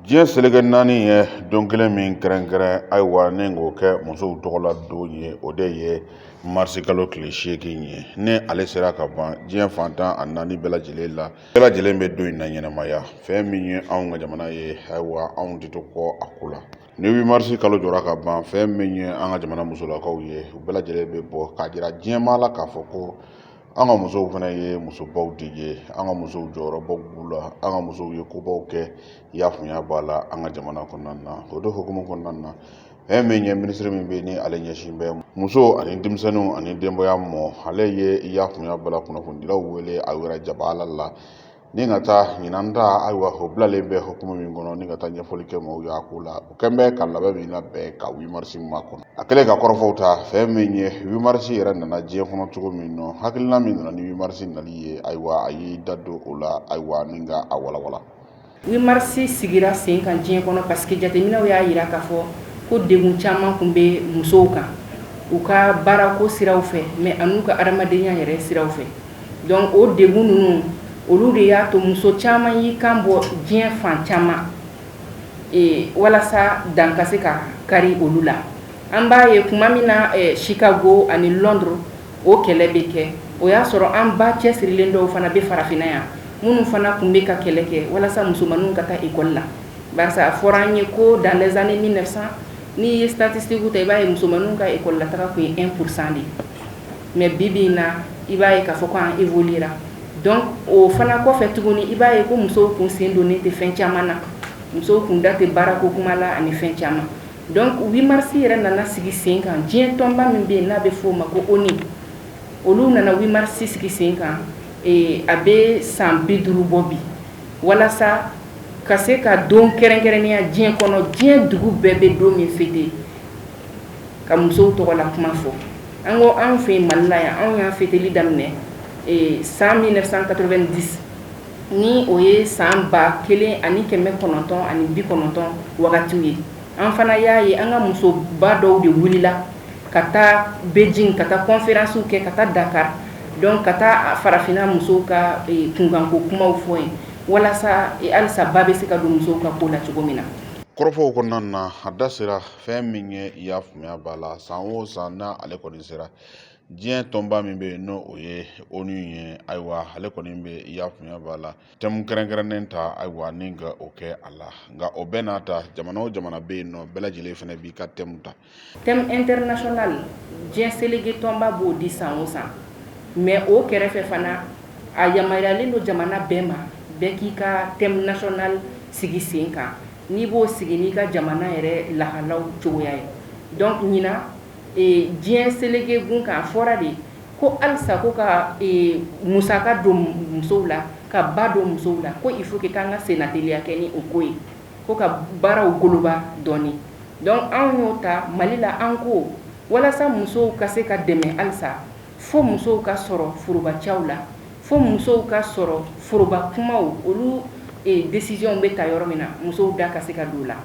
diɲɛ seleke naani ye don kelen min kɛrɛnkɛrɛn ayiwa ni k'o kɛ musow tɔgɔla don ye o de ye marisi kalo tile seegin ye ni ale sera ka ban diɲɛ fan tan ni naani bɛɛ lajɛlen la bɛɛ lajɛlen bɛ don in na ɲɛnamaya fɛn min ye anw ka jamana ye ayiwa anw tɛ to kɔ a ko la ni wimarisi kalo jɔra ka ban fɛn min ye an ka jamana musolakaw ye u bɛɛ lajɛlen bɛ bɔ k'a jira diɲɛmaa la k'a fɔ ko an ka musow fana ye musobaw de ye an ka musow jɔyɔrɔbaw b'u la an ka musow ye kobaw kɛ y'a faamuya b'a la an ka jamana kɔnɔna na o de hukumu kɔnɔna na fɛn min ye minisiri min bɛ ni ale ɲɛsin bɛ musow ani denmisɛnninw ani denbaya mɔ ale ye y'a faamuya b'a la kunnafonidilaw wele a yɛrɛ jaba la Ni ka taa ɲinan ta ayiwa o bilalen bɛ hukumu min kɔnɔ ni ka taa ɲɛfɔli kɛ maaw y'a ko la o kɛlen bɛ ka labɛn min labɛn ka wimarisi ma kɔnɔ a kɛlen ka kɔrɔfɔw ta fɛn min ye wimarisi yɛrɛ nana diɲɛ kɔnɔ cogo min nɔ hakilina min nana ni wimarisi nali ye ayiwa a y'i da don o la ayiwa ni ka a walawala wimarisi sigira sen kan diɲɛ kɔnɔ parce que jateminɛw y'a yira k'a fɔ ko degun caman tun bɛ musow kan u ka baarako siraw fɛ mais an'u ka adamadenya yɛrɛ siraw fɛ donc o degun ninnu olu de y'a to muso caman y'i kan bɔ diɲɛ fan caman walasa dan ka se ka kari olu la an b'a ye tuma min na Chicago ani Londres o kɛlɛ bɛ kɛ o y'a sɔrɔ an ba cɛsirilen dɔw fana bɛ farafinna yan minnu fana tun bɛ ka kɛlɛ kɛ walasa musomanw ka taa ekɔli la barisa a fɔra an ye ko dans les années mille neuf cent n'i ye statistiquew ta i b'a ye musomanw ka ekɔlitaa tun ye un pour cent de ye mais bi bi in na i b'a ye k'a fɔ ko an évoluera donc o fana kɔfɛ tuguni i b'a ye ko musow tun sen donnen tɛ fɛn caman na musow tun da tɛ baarako kuma la ani fɛn caman donc wimarisi yɛrɛ nana sigi sen kan diɲɛ tɔnba min bɛ yen n'a bɛ f'o ma ko ONU olu nana wimarisi sigi sen kan a bɛ san bi duuru bɔ bi walasa ka se ka don kɛrɛnkɛrɛnnenya diɲɛ kɔnɔ diɲɛ dugu bɛɛ bɛ don min fêter ka musow tɔgɔla kuma fɔ an ko anw fɛ Mali la yan anw y'a fêteli daminɛ san mille neuf cent quatre-vingt-dix ni o ye san ba kelen ani kɛmɛ kɔnɔntɔn ani bi kɔnɔntɔn wagatiw ye an fana y'a ye an ka musoba dɔw de wulila ka taa Beijing ka taa kɔnfɛransiw kɛ ka taa Dakar donc ka taa farafinna musow ka kunkanko kumaw fɔ yen walasa halisa ba bɛ se ka don musow ka ko la cogo min na kɔrɔfɔw kɔnɔna na a da sera fɛn min ye i y'a faamuya b'a la san o san na ale kɔni sera diɲɛ tɔnba min bɛ yen n'o o ye onu ye ayiwa ale kɔni bɛ i y'a faamuya b'a la thème kɛrɛnkɛrɛnnen ta ayiwa ni ka o kɛ a la nka o bɛɛ n'a ta jamana o jamana bɛ yen nɔ bɛɛ lajɛlen fana b'i ka thème ta thème international diɲɛ selege tɔnba b'o di san o san mais o kɛrɛfɛ fana a yamaruyalen don jamana bɛɛ ma bɛɛ k'i ka thème national sigi sen kan N'i b'o sigi n'i ka jamana yɛrɛ lahalaw cogoya ye donc ɲinan ee diɲɛ selege gun kan a fɔra de ko alisa ko ka ee musaka don musow la ka ba don musow la ko il faut que k'an ka sennateliya kɛ ni o ko ye ko ka baaraw goloba dɔɔni donc anw y'o ta Mali la an ko walasa musow ka se ka dɛmɛ alisa fo musow ka sɔrɔ forobacɛw la fo musow ka sɔrɔ foroba kumaw olu décisionw bɛ ta yɔrɔ min na musow da ka se ka don la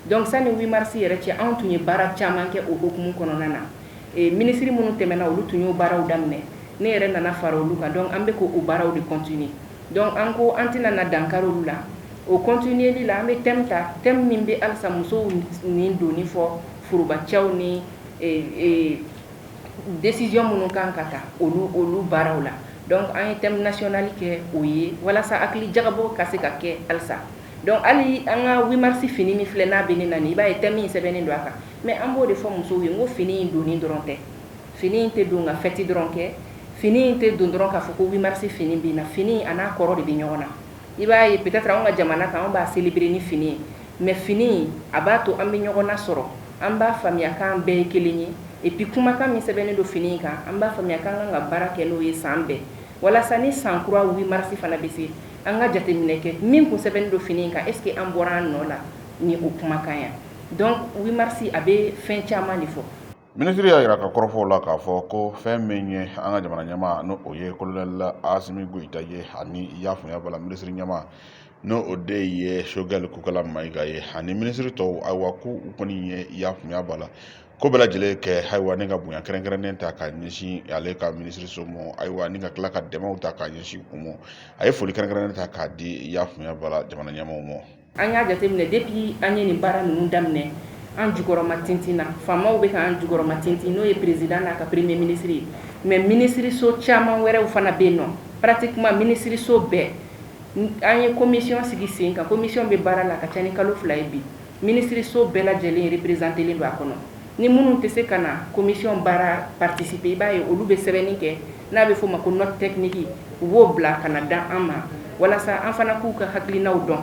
donc sani huit mars yɛrɛ cɛ anw tun ye baara caman kɛ o hukumu kɔnɔna na minisiri minnu tɛmɛna olu tun y'o baaraw daminɛ ne yɛrɛ nana fara olu kan donc an bɛ k'o baaraw de continuer donc an ko an tɛna na dankari olu la o continuerli la an bɛ thème ta thème min bɛ alisa musow ni donni fɔ forobacɛw ni décision minnu kan ka ta olu baaraw la donc an ye thème national kɛ o ye walasa hakili jagabɔ ka se ka kɛ alisa donc hali an ka huit mars fini min filɛ n'a bɛ ne na nin i b'a ye thème in sɛbɛnnen don a kan mais an b'o de fɔ musow ye n ko fini in donni dɔrɔn tɛ fini in tɛ don ka fête dɔrɔn kɛ fini in tɛ don dɔrɔn k'a fɔ ko huit mars fini bɛ na fini a n'a kɔrɔ de bɛ ɲɔgɔn na i b'a ye peut-être an ka jamana kan an b'a célébrer ni fini ye mais fini a b'a to an bɛ ɲɔgɔn nasɔrɔ an b'a faamuya k'an bɛɛ ye kelen ye et puis kumakan min sɛbɛnnen don fini kan an b'a faamuya k'an kan ka baara kɛ n'o ye san bɛɛ walasa ni san kura huit mars fana bɛ se an ka jateminɛ kɛ min kun sɛbɛnnen don fini in kan est-ce que an bɔra an nɔ la ni o kumakan ya donc huit mars a bɛ fɛn caman de fɔ minisiri y'a jira ka kɔrɔfɔw la k'a fɔ ko fɛn min ye an ka jamana ɲɛmaa n'o o ye kolonɛli asimi goyita ye ani i y'a faamuya b'a la minisiri ɲɛmaa n'o o de ye sogɛli kokala mayiga ye ani minisiri tɔw ayiwa ko u kɔni ye i y'a faamuya b'a la ko bɛɛ lajɛlen kɛ ayiwa ni ka bonya kɛrɛnkɛrɛnnen ta ka ɲɛsin ale ka minisiri so mɔ ayiwa ni ka tila ka dɛmɛw ta ka ɲɛsin u mɔ a ye foli kɛrɛnkɛrɛnnen ta k'a di i y'a faamuya b'a la jamana ɲɛmaaw mɔ An y'a jateminɛ depuis an ye nin baara ninnu daminɛ an jukɔrɔma tintin na faamaw bɛ k'an jukɔrɔma tintin n'o ye président n'a ka premier ministre ye mais minisiriso caman wɛrɛw fana bɛ yen nɔ pratiquement minisiriso bɛɛ an ye commission sigi sen kan commission bɛ baara la ka ca ni kalo fila ye bi minisiriso bɛɛ lajɛlen représentélen don a kɔnɔ ni minnu tɛ se ka na commission baara participer i b'a ye olu bɛ sɛbɛnni kɛ n'a bɛ f'o ma ko note technique u b'o bila ka na da an ma walasa an fana k'u ka hakilinaw dɔn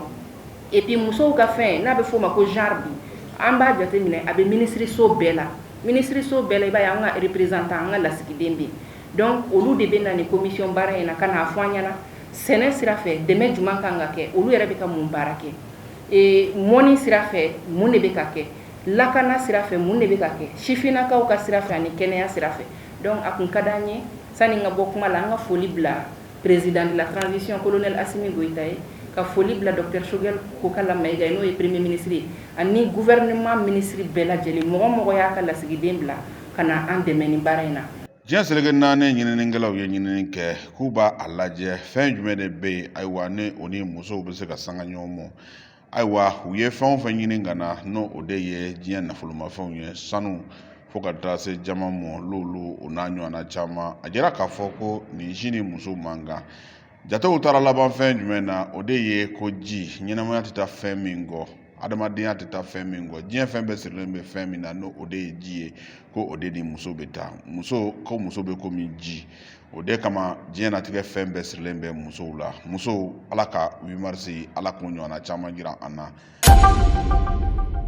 et puis musow ka fɛn n'a bɛ f'o ma ko genre bi an b'a jateminɛ a bɛ minisiriso bɛɛ la minisiriso bɛɛ la i b'a ye an ka représentant an ka lasigiden bɛ yen donc olu de bɛ na nin commission baara in na ka n'a fɔ an ɲɛna sɛnɛ sira fɛ dɛmɛ jumɛn kan ka kɛ olu yɛrɛ bɛ ka mun baara kɛ ee mɔni sira fɛ mun de bɛ ka kɛ lakana sira fɛ mun de bɛ ka kɛ sifinnakaw ka sira fɛ ani kɛnɛya sira fɛ donc a tun ka di an ye sani n ka bɔ kuma la an ka foli bila président de la transition colonel Assimi Goïta ye ka foli bila docteur Choguel Kokala Maïga n'o ye premier ministre ye ani gouvernement ministre bɛɛ lajɛlen mɔgɔ mɔgɔ y'a ka lasigiden bila ka na an dɛmɛ nin baara in na diɲɛ seleke naani ɲininikɛlaw ye ɲinini kɛ k'u b'a a lajɛ fɛn jumɛn de bɛ yen ayiwa ni o ni musow bɛ se ka sanga ɲɔgɔn ma ayiwa u ye fɛn o fɛn ɲini ka na n'o o de ye diɲɛ nafolomafɛnw ye sanu fo ka taa se diamant ma lulu o n'a ɲɔgɔnna caman a jɛra k'a fɔ ko nin si ni muso man kan jatew taara laban fɛn jumɛn na o de ye ko ji ɲɛnamaya tɛ taa fɛn min kɔ adamadenya tɛ taa fɛn min kɔ diɲɛ fɛn bɛɛ sirilen bɛ fɛn min na n'o o de ye ji ye ko o de ni muso bɛ taa ko muso bɛ komi ji o de kama diɲɛnatigɛ fɛn bɛɛ sirilen bɛ musow la musow ala ka huit mars ala k'o ɲɔgɔnna caman jira an na